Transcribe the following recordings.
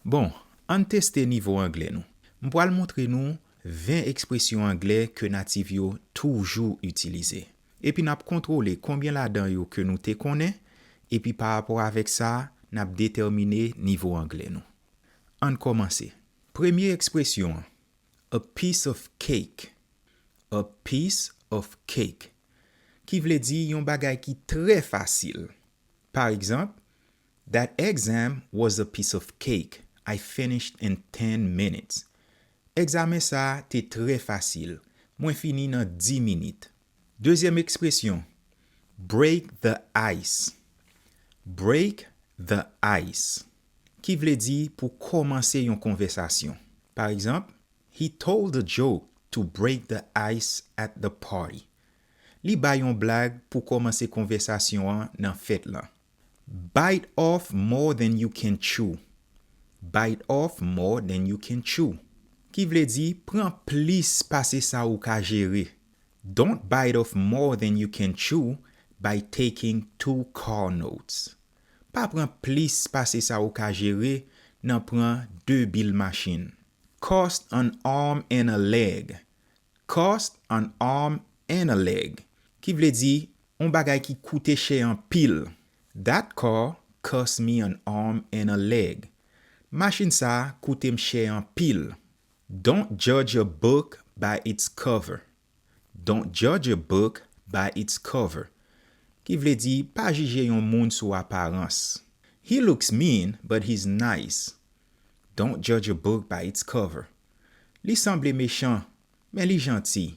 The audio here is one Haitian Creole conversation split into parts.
Bon, ann teste nivo anglè nou. M pral montre nou 20 ekspresyon anglè ke natif yo toujou itilize. Epi n ap kontwole konbyen ladan yo ke nou te konnen, epi pa rapò avèk sa, n ap detèmine nivo anglè nou. Ann kòmanse. Premye ekspresyon an, A piece of cake. A piece of cake. Ki vle di yon bagay ki trè fasil. Paregzanp, That exam was a piece of cake, I finished in ten minutes. Egzamen sa a te trè fasil, mwen fini nan di minit. Dezyèm ekspresyon, Break the ice. Break the ice, ki vle di pou kòmanse yon konvèsasyon. Pa egzanp, He told a joke to break the ice at the party. Li bay yon blag pou kòmanse konvèsasyon an nan fèt lan. Bite off more than you can chew Bite off more than you can chew Ki vle di, pran plis pase sa ou ka jere Don't bite off more than you can chew by taking two car notes Pa pran plis pase sa ou ka jere nan pran 2 bil machin Cost an arm and a leg Cost an arm and a leg Ki vle di, On bagay ki koute chè anpil. That car cost me an arm and a leg. Machin sa a koute m chè anpil. Don't judge a book by its cover. Don't judge a book by its cover. Ki vle di, pa jije yon moun sou aparans. He looks mean, but he's nice. Don't judge a book by its cover. Li sanble mechan, men li janti.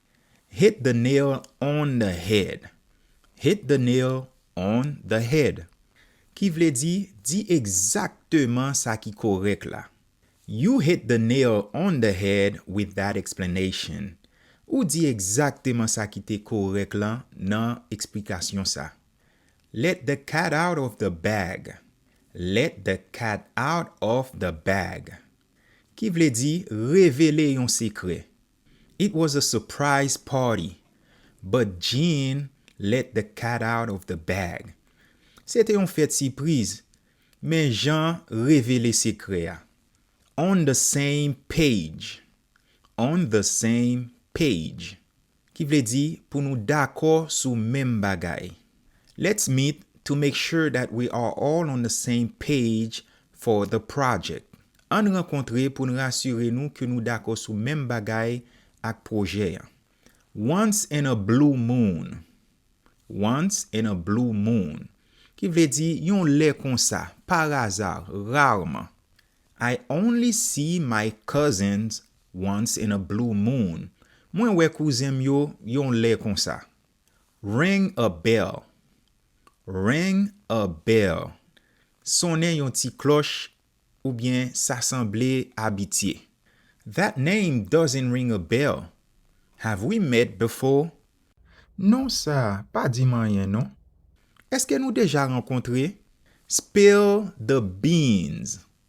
Hit the nail on the head Hit the nail on the head Ki vle di Di egzakteman sa ki korèk la You hit the nail on the head with that explanation Ou di egzakteman sa ki te korèk lan nan eksplikasyon sa Let the cat out of the bag Let the cat out of the bag Ki vle di Revele yon sekrè It was a surprise party, but Jean let the cat out of the bag. Se te yon fèt sipriz, men Jan revele sekrè a. On the same page On the same page, ki vle di pou nou dakò sou menm bagay. Let's meet to make sure that we are all on the same page for the project. Ann rankontre pou n rasire nou ke nou dakò sou menm bagay ak pwojè an. Once in a blue moon Once in a blue moon Ki vle di yon lè konsa, paraza, rarman. I only see my cousins once in a blue moon Mwen wè kouzen m yo yon lè konsa. Ring a bell Ring a bell Sonnen yon ti klòch oubyen sa sanble abitye That name doesn't ring a bell Have we met before? Non sa a pa di m anyen non Èske nou deja rankontre? Spill the beans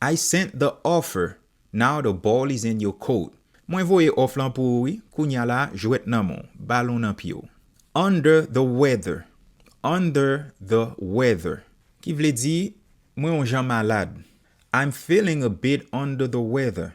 I sent the offer, now the ball is in your court Mwen voye òf lan pou ou wi, kounya la jwèt nan men w, balon nan pye w Under the weather, under the weather Ki vle di, mwen on jan malad I'm feeling a bit under the weather,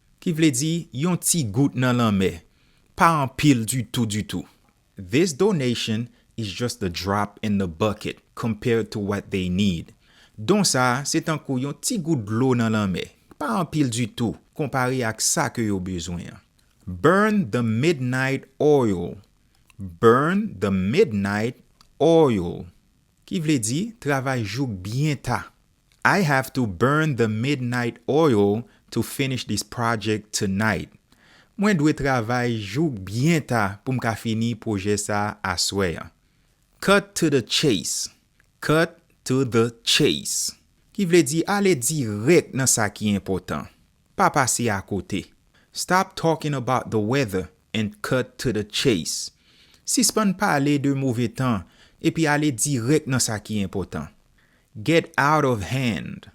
Ki vle di, yon ti gout nan lanmè, pa anpil ditou ditou. This donation is just the drop in the bucket compared to what they need. Don sa a se tankou yon ti gout dlo nan lanmè, pa anpil ditou konpare ak sa ke yo bezwen. Burn the midnight oil Burn the midnight oil Ki vle di, travay jouk byen ta, I have to burn the midnight oil to finish this project tonight Mwen dwe travay jouk byen ta pou m ka fini pwojè sa aswè an Cut to the chase Cut to the chase Ki vle di ale dirèk nan sa ki enpòtan Pa pase a kote. Stop talking about the weather and cut to the chase. Sispann pale de move tan epi ale dirèk nan sa ki enpòtan. Get out of hand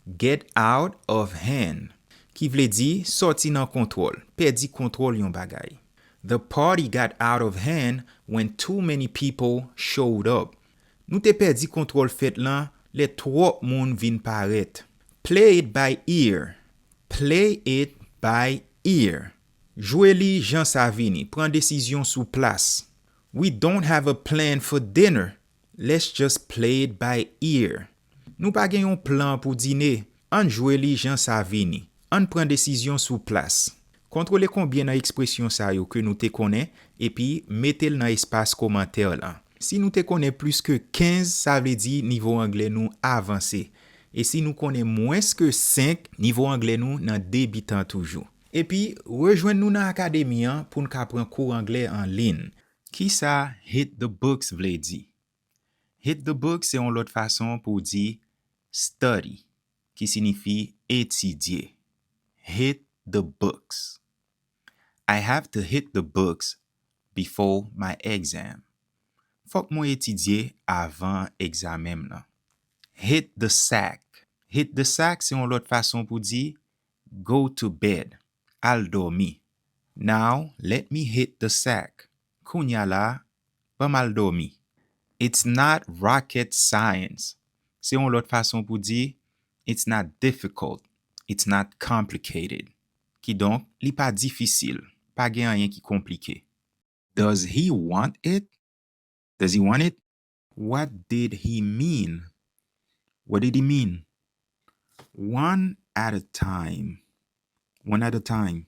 Get out of hand ki vle di sòti nan kontwòl, pèdi kontwòl yon bagay. The party got out of hand when too many people showed up. Nou te pèdi kontwòl fèt lan lè twòp moun vin parèt. Play it by ear Play it by ear Jwe li jan sa vini, pran desizyon sou plas. We don't have a plan for dinner Let's just play it by ear Nou pa gen yon plan pou dine, ann jwe li jan sa vini. Ann pran desizyon sou plas. Kontwole konbyen nan ekspresyon sa yo ke nou te konnen epi mete l nan espas komantè lan. Si nou te konnen plis ke 15 sa vle di nivo angle nou avanse. E si nou konnen mwens ke 5, nivo angle nou nan debitan toujou. Epi rejwenn nou nan akademi an pou n ka pran kou angle an lin. Kisa Hit the Books vle di? Hit the book se yon lòt fason pou w di study ki sinifi etidye. Hit the books. I have to hit the books before my exam. Fòk mwen etidye avan egzamen m nan. Hit the sack. Hit the sack se yon lòt fason pou di go to bed, al dòmi. Now let me hit the sack. Kounya la pa mal dòmi. It's not rocket science se yon lòt fason pou di It's not difficult, it's not complicated. Kidonk, li pa difisil, pa gen anyen ki konplike. Does he want it? Does he want it? What did he mean? What did he mean? One at a time, one at a time.